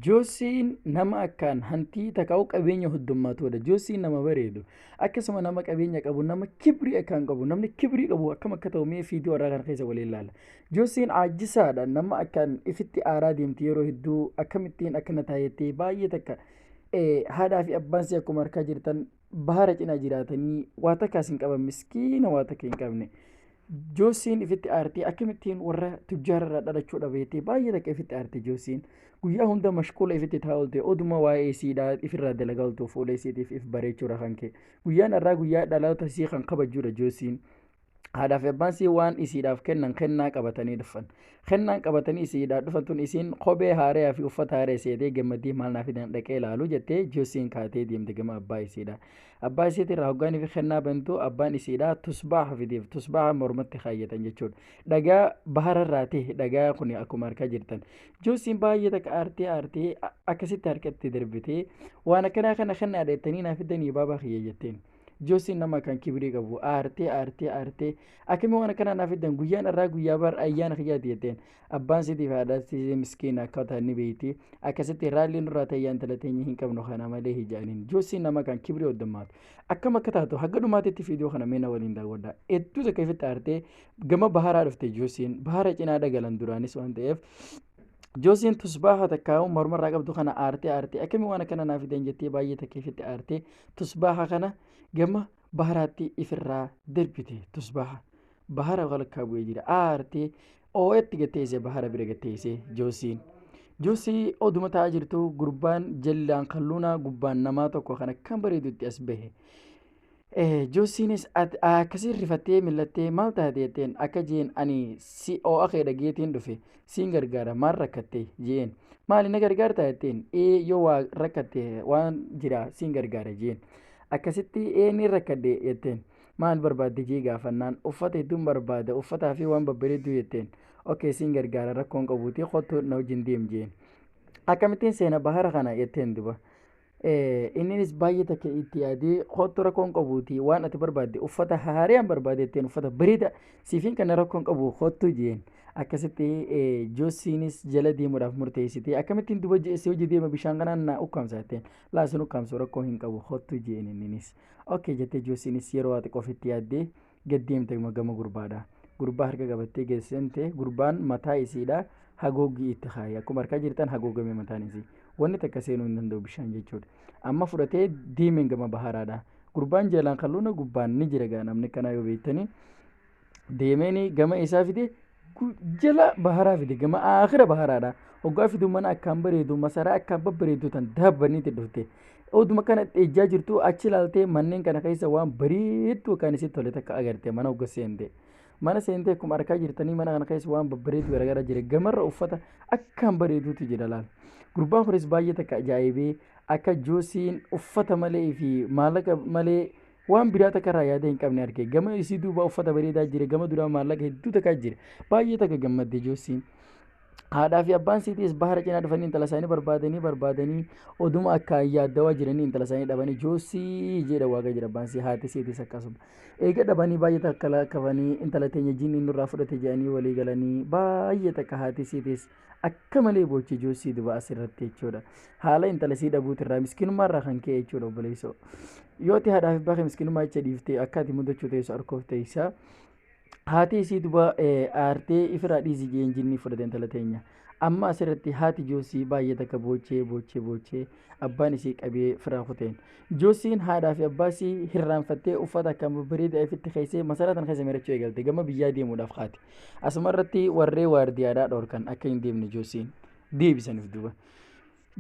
Joosiin nama akkaan hantii taka'u qabeenya huddummaatuudha. Joosiin nama bareedu. Akkasuma nama qabeenya qabu, nama kibrii akkaan qabu, namni kibrii qabu akkam akka ta'u mee fiidiyoo irraa kana keessa waliin ilaalla. Joosiin aajisaadha. Nama akkaan ifitti aaraa deemti yeroo hedduu akkamittiin akkana taayetti baay'ee takka haadhaa fi abbaan si akkuma harkaa jirtan Bahara cinaa jiraatanii waa takkaas hin qaban miskiina waa takka hin qabne. Joosiin ifitti aartee akkamittiin warra tujjaararraa dhalachuu dhabeetee baay'ee takka ifitti aartee Joosiin. Guyyaa hunda mashquula ifitti taa oolte oduma waa'ee isiidhaa ifirraa dalagaa ooltu fuula isiitiif if bareechuudha kan kee. Guyyaan har'aa guyyaa dhaloota isii kan kabajuudha Joosiin. haadhaa fi abbaan isii waan isiidhaaf kennan kennaa qabatanii dhufan. Kennaan qabatanii isiidhaa dhufan tun isiin kophee haareyaa fi uffata haaree seetee gammaddii maal naa fidan dhaqee ilaalu jettee Joosiin kaatee deemte gama abbaa isiidhaa. Abbaa isiitti irraa hoggaanii fi kennaa bantu abbaan isiidhaa tusbaaha fideef tusbaaha mormatti kaayyatan jechuudha. Dhagaa bahara irraa ta'e dhagaa kun akkuma harkaa jirtan. Joosiin baay'ee takka aartee aartee akkasitti harkatti darbitee waan akkanaa kana kennaa dheettanii naa fidanii baabaa kiyya jetteen. Joosiin nama kan kibrii qabu aartee aartee aartee akkamii waan akkanaa naaf fiddan guyyaan irraa guyyaa bar ayyaana kiyyaati jetteen abbaan siitiif haadha siisee miskiin akka ta'an ni beeyti akkasitti raalliin nurraa ta'e ayyaana talateenya hin qabnu kana malee hijaaniin joosiin nama kan kibrii oddammaatu akkam akka taatu hagga dhumaatitti fiidiyoo kana meena waliin daawwadha hedduu takka ifitti aartee gama baharaa dhufte joosiin bahara cinaa dhagalan duraanis waan ta'eef Joosiin tusbaaha takkaa'u mormarraa qabdu kana aartee aartee akkamii waan akkana naaf fidan jettee baay'ee takkeeffitti aartee Tusbaaha kana gama baharaatti ifirraa darbite. Tusbaaha bahara walakkaa bu'ee jira. Aartee oo'etti gatteessee bahara bira gatteessee joossiin. Joossii oduma taa'aa jirtu gurbaan jallaan kalluunaa gubbaan namaa tokko kan akkam bareedutti as bahe. Joossiinis akkasiin rifattee millattee maal taate jetteen akka jeen ani si oo'a kee dhageetiin dhufe. siin gargaara maal rakkatte jeen maali na gargaarta jetteen ee yoo waa rakkatte waan jira siin gargaara jeen akkasitti ee ni rakkadhe jetteen maal barbaadde jee gaafannaan uffata hedduun barbaada uffataa fi waan babbareedduu jetteen okkee siin gargaara rakkoon qabuutii kottu na wajjin deem jeen akkamittiin seena bahara kana jetteen duba Inninis baay'ee takka itti yaadee kottu rakkoon qabuuti waan ati barbaadde uffata haariyaan barbaadee ittiin uffata bareeda siifin kana rakkoon qabu kottu jeen. Akkasitti Joosiinis jala deemuudhaaf murteessitee akkamittiin duba jeessee hojii deema bishaan kanaan na ukkaamsa jetteen. Laasin ukkaamsu rakkoo hin qabu kottu jeen inninis. Okkee jettee Joosiinis yeroo waa xiqqoof itti yaaddee gad deemte gama gurbaadha gurbaa harka qabattee gad seente gurbaan mataa isiidha hagoogii itti kaaye akkuma harkaa jirtan hagoogame mataan isii wanni takka seenuu hin danda'u bishaan jechuudha amma fudhatee deemeen gama bahaaraadha gurbaan jalaan kalluuna gubbaan ni jira gaa namni kanaa yoo beektanii deemeen gama isaa fide jala baharaa fide gama aakhira baharaadha hoggaa fidu mana akkaan bareedu masaraa akkaan babbareedu tan daabbanniitti dhufte oduma kana ejjaa jirtu achi ilaaltee manneen kana keessa waan bareedduu kan isitti tole takka agarte mana hogga seente mana seentee akkuma arkaa jirtanii mana kana keessa waan babbareedu garaagaraa jira gamarra uffata akkaan bareeduutu jira laal gurbaan kunis baay'ee takka ajaa'ibee akka joosiin uffata malee fi maallaqa malee Waan biraa takka irraa yaada hin qabne arge. Gama isii duuba uffata bareedaa jira. Gama duraa maallaqa hedduu takkaa jira. Baay'ee takka gammadde Joosiin. Haadhaa fi abbaan siitiis bahara cinaa dhufanii intala isaanii barbaadanii barbaadanii oduma akka yaaddawaa jiranii intala isaanii dhabanii joosii jedha waaqa jira abbaan sii haati siitiis akkasuma. Eega dhabanii baay'ee takka lakkafanii intala teenya jiinni nurraa fudhate jedhanii walii galanii baay'ee takka haati siitiis akka malee boochee joossii duba as irratti jechuudha. Haala intala sii dhabuuti irraa miskinummaa irraa kan ka'e jechuudha obboleessoo. Yoo ti haadhaaf abbaa kee miskinummaa jecha dhiiftee akka ati mudachuu teessu arkoof teessa. Haati isii duba aartee ifirraa dhiisi jeen jinnii fudhate intala teenya. Amma as irratti haati joossii baay'ee takka boochee boochee boochee abbaan isii qabee firaa kuteen. Joossiin haadhaa fi abbaa isii hirraanfattee uffata akka bareedaa ifitti keessee masaraa tan keessa mirachuu eegalte gama biyyaa deemuudhaaf kaate. Asuma irratti warree waardiyaadhaa dhorkan akka hin deemne Joosiin deebisan if duuba.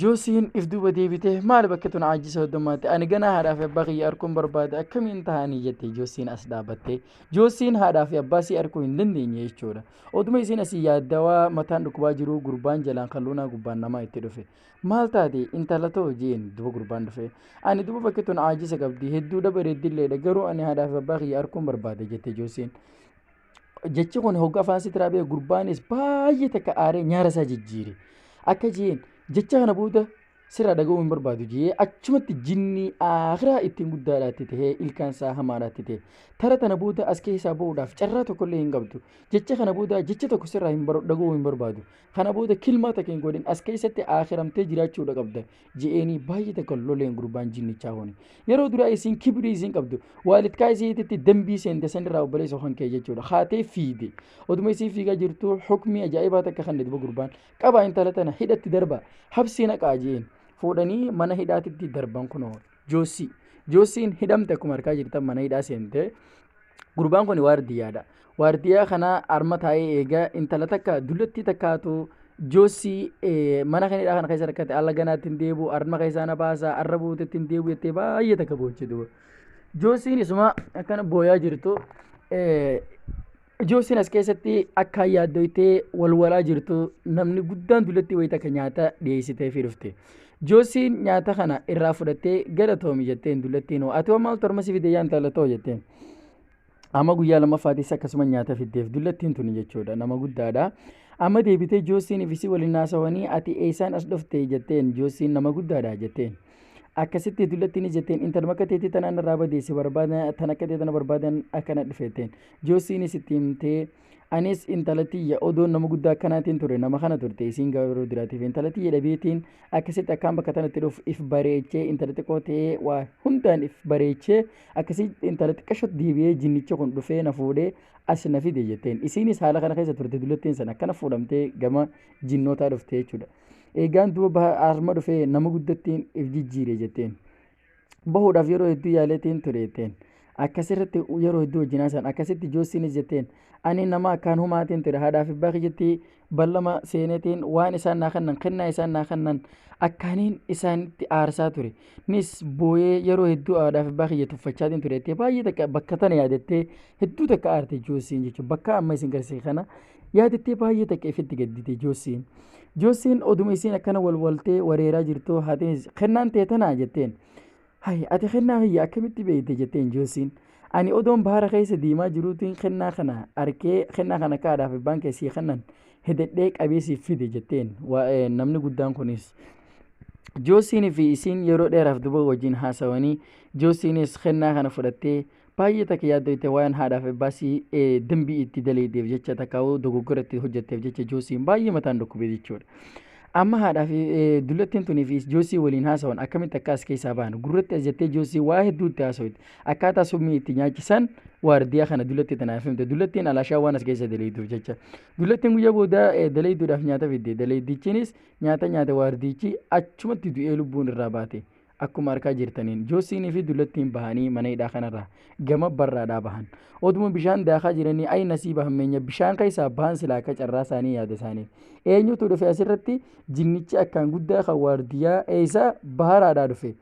Joosiin if duuba deebitee maal bakka tun aajjii soddommaatti ani ganaa haadhaa fi abbaa kiyya arguun barbaade akkamiin tahanii jette Joosiin as dhaabattee. Joosiin haadhaa fi abbaa sii arguu hin dandeenye jechuudha. Oduma isiin asii yaaddawaa mataan dhukkubaa jiruu gurbaan jalaan kalluunaa gubbaan namaa itti dhufe. Maal taate intala too jeen duba gurbaan dhufe. Ani duba bakki tun aajjisa qabdi hedduudha bareeddilleedha garuu ani haadhaa fi abbaa kiyya arguun barbaade jette Joosiin. jechi kun hogga afaan sitiraa bee gurbaanis baay'ee takka aaree nyaara isaa jijjiire akka jeen jecha kana booda sirraa dhaga'uu hin barbaadu jee achumatti jinnii aakiraa ittiin guddaadhaatti ta'ee ilkaan isaa hamaadhaatti ta'e tara tana booda as keessaa ba'uudhaaf carraa tokkollee hin qabdu jecha kana booda jecha tokko sirraa hin dhaga'uu hin barbaadu kana booda kilmaa takka hin godhin as keessatti aakiramtee jiraachuudha qabda je'eenii baay'ee takka loleen gurbaan jinnichaa huni yeroo duraa isiin kibrii isiin qabdu waalidkaa isiititti dambii seente sanirraa obboleessa kan kee jechuudha haatee fiide oduma isii fiigaa jirtu hukmii ajaa'ibaa takka kan duba gurbaan qabaa intala tana hidhatti darba habsii naqaa je'een fuudhanii mana hidhaatitti darban kunoo Joossii. Joossiin hidhamte akkuma harkaa jirtan mana hidhaa seente. Gurbaan kun waardiyyaadha. Waardiyyaa kana harma taa'ee eegaa intala takka dullattii takkaatu joossii eh, mana kan hidhaa kana keessa rakkate alla ganaatti hin deebi'u harma keessaa na baasa har'a buutetti hin deebi'u jettee baay'ee takka boochee duuba. Joossiin isuma akkana booyaa jirtu eh, Ijoo isin as keessatti akka yaaddoytee wal walaa jirtu namni guddaan dullatti wayita akka nyaata dhiyeessitee fi dhufte. Joosiin nyaata kana irraa fudhattee galatoomi jetteen dullattiin hoo ati maal torma si fidee yaanta latoo jetteen. Amma guyyaa lammaffaatiis akkasuma nyaata fiddeef dullattiin tuni jechuudha nama guddaadha. Amma deebitee joosiin ifisii waliin naasawanii ati eessaan as dhufte jetteen joosiin nama guddaadha jetteen. akkasitti dullattiin jetteen intala makka teetii tanaan irraa badeessi barbaadan tan akka tee tana barbaadan akkana dhufeetteen joossiinis itti himtee anis intala tiyya odoon nama guddaa akkanaatiin ture nama kana turte isiin garuu duraatiif intala tiyya dhabeetiin akkasitti akkaan bakka tanatti dhufu if bareechee intala xiqqoo ta'ee waa hundaan if bareechee akkasii intala xiqqashatti deebi'ee jinnicha kun dhufee na fuudhee as na fide jetteen isiinis haala kana keessa turte dullattiin sana akkana fuudhamtee gama jinnootaa dhufte jechuudha. Eegaan duuba baha harma dhufee nama guddattiin if jijjiire jetteen. Bahuudhaaf yeroo hedduu yaaleetiin ture jetteen. Akkasirratti yeroo hedduu wajjin haasa'an akkasitti joossiinis jetteen. Ani nama akkaan humaatiin ture haadhaa fi abbaa kiyyatti ballama seeneetiin waan isaan naa kennan kennaa isaan naa kennan akkaaniin isaanitti aarsaa ture. Nis booyee yeroo hedduu haadhaa fi abbaa kiyya tuffachaatiin ture jettee baay'ee takka bakka tana yaadattee hedduu takka aarte joossiin jechuudha. Bakka amma isin garsiise kana Yaadattee baay'ee takka ifitti gaddite Joossiin. Joossiin oduma isiin akkana walwaltee wareeraa jirtu haatiinis kennaan tee tanaa jetteen. Hay ati kennaa kiyya akkamitti beeyte jetteen Joossiin. Ani odoon baara keessa deemaa jiruutiin kennaa kana arkee kennaa kana akka haadhaaf abbaan kee sii kennan hededhee qabee siif fide jetteen waa'ee namni guddaan kunis. Joossiin fi isiin yeroo dheeraaf duba wajjin haasawanii Joossiinis kennaa kana fudhattee Baay'ee takka yaaddoyte waan haadhaaf ebbaa si dambii itti daleedeef jecha takka dogoggora itti hojjetteef jecha joosiin baay'ee mataan dhukkubee jechuudha. Amma haadhaa fi dullattiin tunii fi joosii waliin haasawan akkamitti akka as keessaa bahan gurratti as jettee joosii waa hedduu itti haasawite akkaataa summii itti nyaachisan waardiyaa kana dullattii tanaaf himte dullattiin alaashaa waan as keessa daleeyduuf jecha dullattiin guyyaa booda daleeyduudhaaf nyaata fidde daleeydichinis nyaata nyaate waardiichi achumatti du'ee lubbuun irraa baate. Akkuma arkaa jirtaniin Joosiinii fi Dullattiin bahanii mana hidhaa kanarraa gama barraadhaa bahan. Oduma bishaan daakaa jiranii ayi nasiiba hammeenya bishaan keessaa bahan silaa akka carraa isaanii yaada isaanii. Eenyutu dhufe asirratti jinnichi akkaan guddaa kan waardiyyaa eeysaa baharaadhaa dhufe.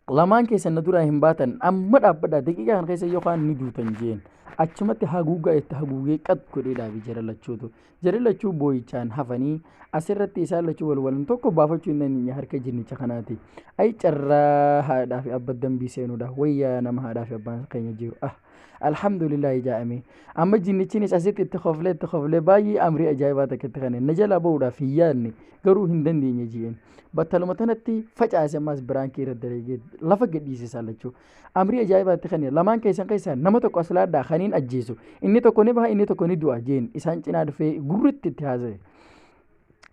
Lamaan keessan na duraa hin baatan amma dhaabbadhaa daqiiqaa kana keessa yookaan ni duutan jeen. Achumatti haguugaa itti haguugee qat godhee dhaabe jara lachuutu. Jarri lachuu booyichaan hafanii asirratti isaan lachuu wal walan tokko baafachuu hin dandeenye harka jinnicha kanaati. Ayi carraa haadhaa fi abba dambii seenuudha. Wayyaa nama haadhaa fi abbaan keenya jiru. Ah, alhamdulillah ijaa'ame. Amma jinnichinis asitti itti koflee itti koflee baay'ee amrii ajaa'ibaa takka itti kenne. Na jalaa ba'uudhaaf hin yaadne garuu hin dandeenye ji'een. Battaluma tanatti facaase ammaas biraankii irra dalageet lafa gadhiise isaan lachuu. Amrii ajaa'ibaa itti kenne. Lamaan keessan keessaa nama tokko as laadhaa kaniin ajjeesu. Inni tokko ni baha inni tokko ni du'a jeen isaan cinaa dhufee gurritti itti haasa'e.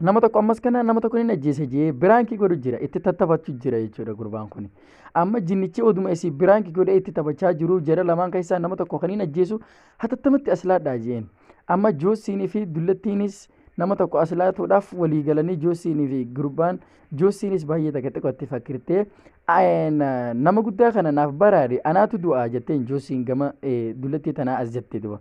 Nama tokko ammas kana nama tokko ni ajjeese jee biraankii godhu jira itti tattaphachuu jira jechuudha gurbaan kun. Amma jinnichi oduma isii biraankii godhee itti taphachaa jiru jara lamaan keessaa nama tokko kaniin ajjeesu hatattamatti as laadhaa jeen. Amma joossiinii fi dullattiinis nama tokko as laatuudhaaf walii galanii joossiinii fi gurbaan joossiinis baay'ee takka xiqqootti fakkirtee Ayeen nama guddaa kana naaf baraare anaatu du'aa jetteen Joosiin gama dullatti tanaa as jette duba.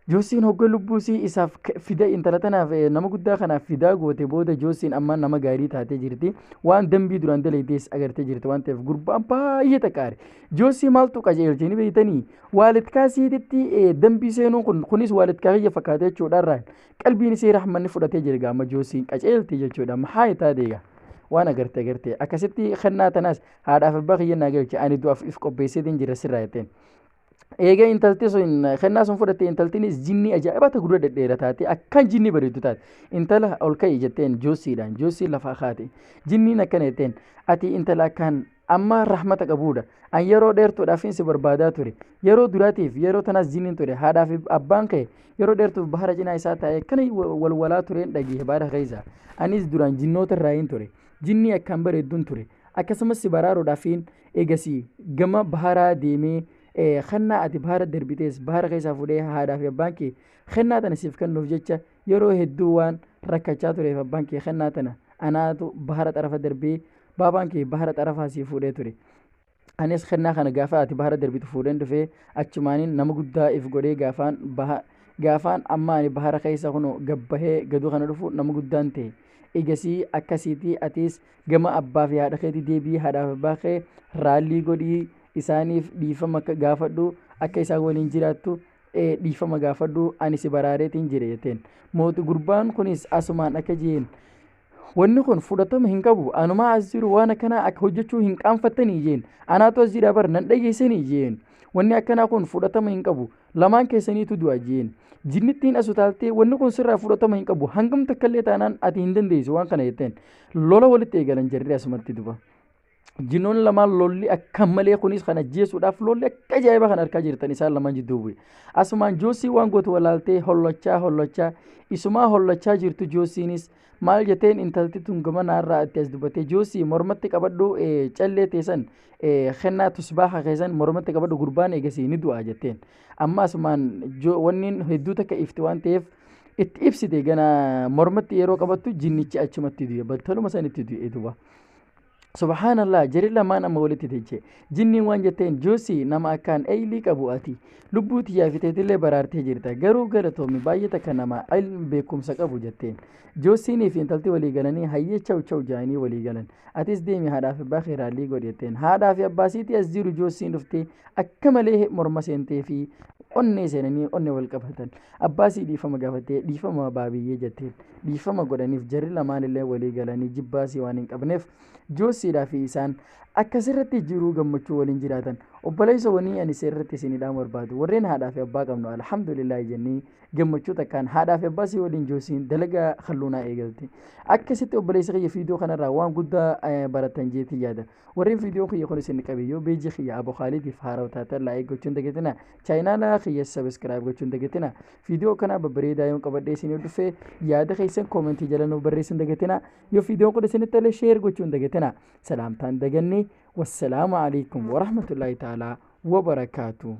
Joosiin hogga lubbuusii isaaf fida intala tanaaf nama guddaa kanaaf fidaa goote booda Joosiin amma nama gaarii taatee jirti. Waan dambii duraan daleedees agartee jirti waan ta'eef gurbaan baay'ee xaqaare. Joosii maaltu qajeelche ni beektanii? Waalitkaa siiditti dambii seenuun kun kunis waalitkaa kiyya fakkaata jechuudha irraan. qalbiin isii rahmanni fudhatee jirga amma joosiin qaceelti jechuudha amma haa itaa deega waan agarte agarte akkasitti kennaa tanaas haadhaaf abbaa kiyya naa galche ani du'aaf if qopheessitiin jira sirraa jetteen eega intalti sun kennaa sun fudhatte intaltinis jinnii ajaa'ibaa ta gurra dhedheera taate akkan jinnii bareeddu taate intala ol ka'i jetteen joosiidhaan joosii lafaa kaate jinniin akkana jetteen ati intala akkaan Amma rahmata qabuudha. An yeroo dheertuudhaafin si barbaadaa ture. Yeroo duraatiif yeroo tanaas jinniin ture. Haadhaa fi abbaan kee yeroo dheertuuf bahara cinaa isaa taa'ee kan wal walaa tureen dhageehe baara keessa. Anis duraan jinnoota irraa hin ture. Jinnii akkaan bareedduun ture. Akkasumas si baraaruudhaafin eegasii gama baharaa deemee kennaa ati bahara darbitees bahara keessaa fuudhee haadhaa fi abbaan kee kennaa tana siif kennuuf jecha Yeroo hedduu waan rakkachaa tureef abbaan kee kennaa tana anaatu bahara xarafa darbee baabaan kee bahara xarafaa sii fuudhee ture. Anis kennaa kana gaafa ati bahara darbitu fuudheen dhufee achumaanin nama guddaa if godhee gaafaan baha gaafaan amma ani bahara keessa kun gabbahee gaduu kana dhufu nama guddaan ta'e. Egasii akkasiitii atis gama abbaa fi haadha keetii deebii haadhaaf abbaa kee raallii godhii isaaniif dhiifama akka gaafadhu akka isaan waliin jiraattu ee, dhiifama gaafadhu ani si baraareetiin jire jetteen mooti gurbaan kunis asumaan akka jeen wanni kun fudhatama hin qabu anumaa as jiru waan akkanaa akka hojjechuu hin qaanfattanii jeen anaatu as jira bar nan dhageessanii jeen wanni akkanaa kun fudhatama hin qabu lamaan keessaniitu du'a jeen jinnittiin as utaaltee wanni kun sirraa fudhatama hin qabu hangam takkallee taanaan ati hin dandeessu waan kana jetteen lola walitti eegalan jarri asumatti duba. Jinoon lamaan lolli akka malee kunis kan ajjeesuudhaaf lolli akka ajaa'iba kan harkaa jirtan isaan lamaan jidduu bu'e. Asumaan Joossii waan gootu walaaltee hollachaa hollachaa isumaa hollachaa jirtu Joossiinis maal jeteen intalti tun gamanaa irraa itti as dubbattee Joossii mormatti qabadhu callee teessan kennaa tusbaaha keessan mormatti qabadhu gurbaan eegasii ni du'a jetteen. Amma asumaan wanni hedduu takka ifti waan ta'eef itti ibsite gana mormatti yeroo qabattu jinnichi achumatti du'e battaluma sanitti du'e duba. Subhaanallah jari lamaan amma walitti deeche. Jinniin waan jetteen Joosii nama akkaan eeylii qabu ati. Lubbuu tiyyaa fi teetillee baraartee jirta. Garuu galatoomi baay'ee takka nama ilm beekumsa qabu jetteen. Joosiinii fi intalti walii galanii hayyee chaw chaw jaanii walii galan. Atis deemi haadhaa fi abbaa kee raallii godhi jetteen. Haadhaa fi abbaa siitii as jiru Joosiin dhuftee akka malee morma seentee fi onnee seenanii onnee wal qabatan. Abbaa sii dhiifama gaafattee dhiifama baabiyyee jetteen. dhiifama godhaniif jarri lamaanillee walii galanii jibbaasii waan hin qabneef joosiidhaa fi isaan akka sirratti jiruu gammachuu waliin jiraatan obboleessa wanii ani sirratti isin hidhaan barbaadu warreen haadhaa fi abbaa qabnu alhamdulillah jennee gammachuu takkaan haadhaa fi abbaa sii waliin joosiin dalagaa halluunaa eegalte akkasitti obboleessa kiyya fiidoo kanarraa waan guddaa baratan jeetii yaada Warri viidiyoo kiyya kun isin qabe yoo beejii kiyya Abo Khaalidiif haarawa taatan laayik gochuun dagatina. Chaayinaala kiyya sabiskiraayib gochuun dagatina. Viidiyoo kanaa babbareedaa yoon qabadhee isin yoo dhufe yaada keessan koomentii jala nuuf barreessuun dagatina. Yoo viidiyoon kun isinitti tole sheer gochuun dagatina. Salaamtaan daganne. Wassalaamu alaikum warahmatullaahi ta'aalaa wabarakaatuh.